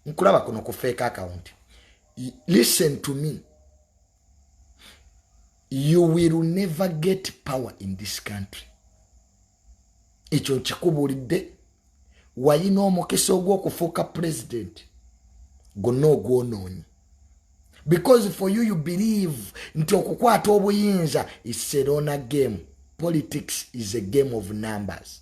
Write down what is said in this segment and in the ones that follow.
nkulaba kuno ku fake account listen to me you will never get power in this country ekyo nkikubuulidde wayina omukisa ogw'okufuuka president gonna ogwonoonyi because for you you believe nti okukwata obuyinza iserona game politics is a game of numbers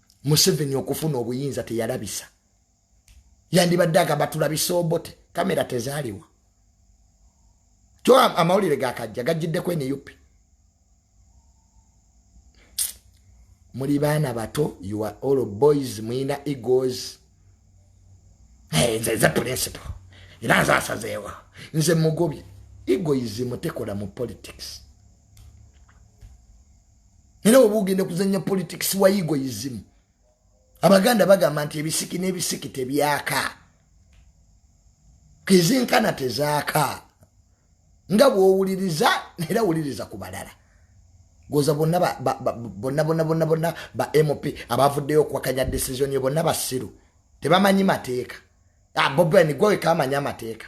museveni okufuna obuyinza teyalabisa yandibadde agamba tulabisa obote kamera tezaaliwa kyo amawulire gakajja gajjiddeko nup muli baana bato you are all boys mulina egos nze nze principal era nze asazeewa nze mugobye egoism tekola mu politics era oba ogenda kuzanya politics wa egoism abaganda bagamba nti ebisiki n'ebisiki tebyaka kezinkana tezaaka nga bwowuliriza era wuliriza ku balala goza bonna bonna bonna bonna bonna ba mp abavuddeyo okuwakanya decision yo bonna basiru tebamanyi mateeka ah, bobeni gweweka amanyi amateeka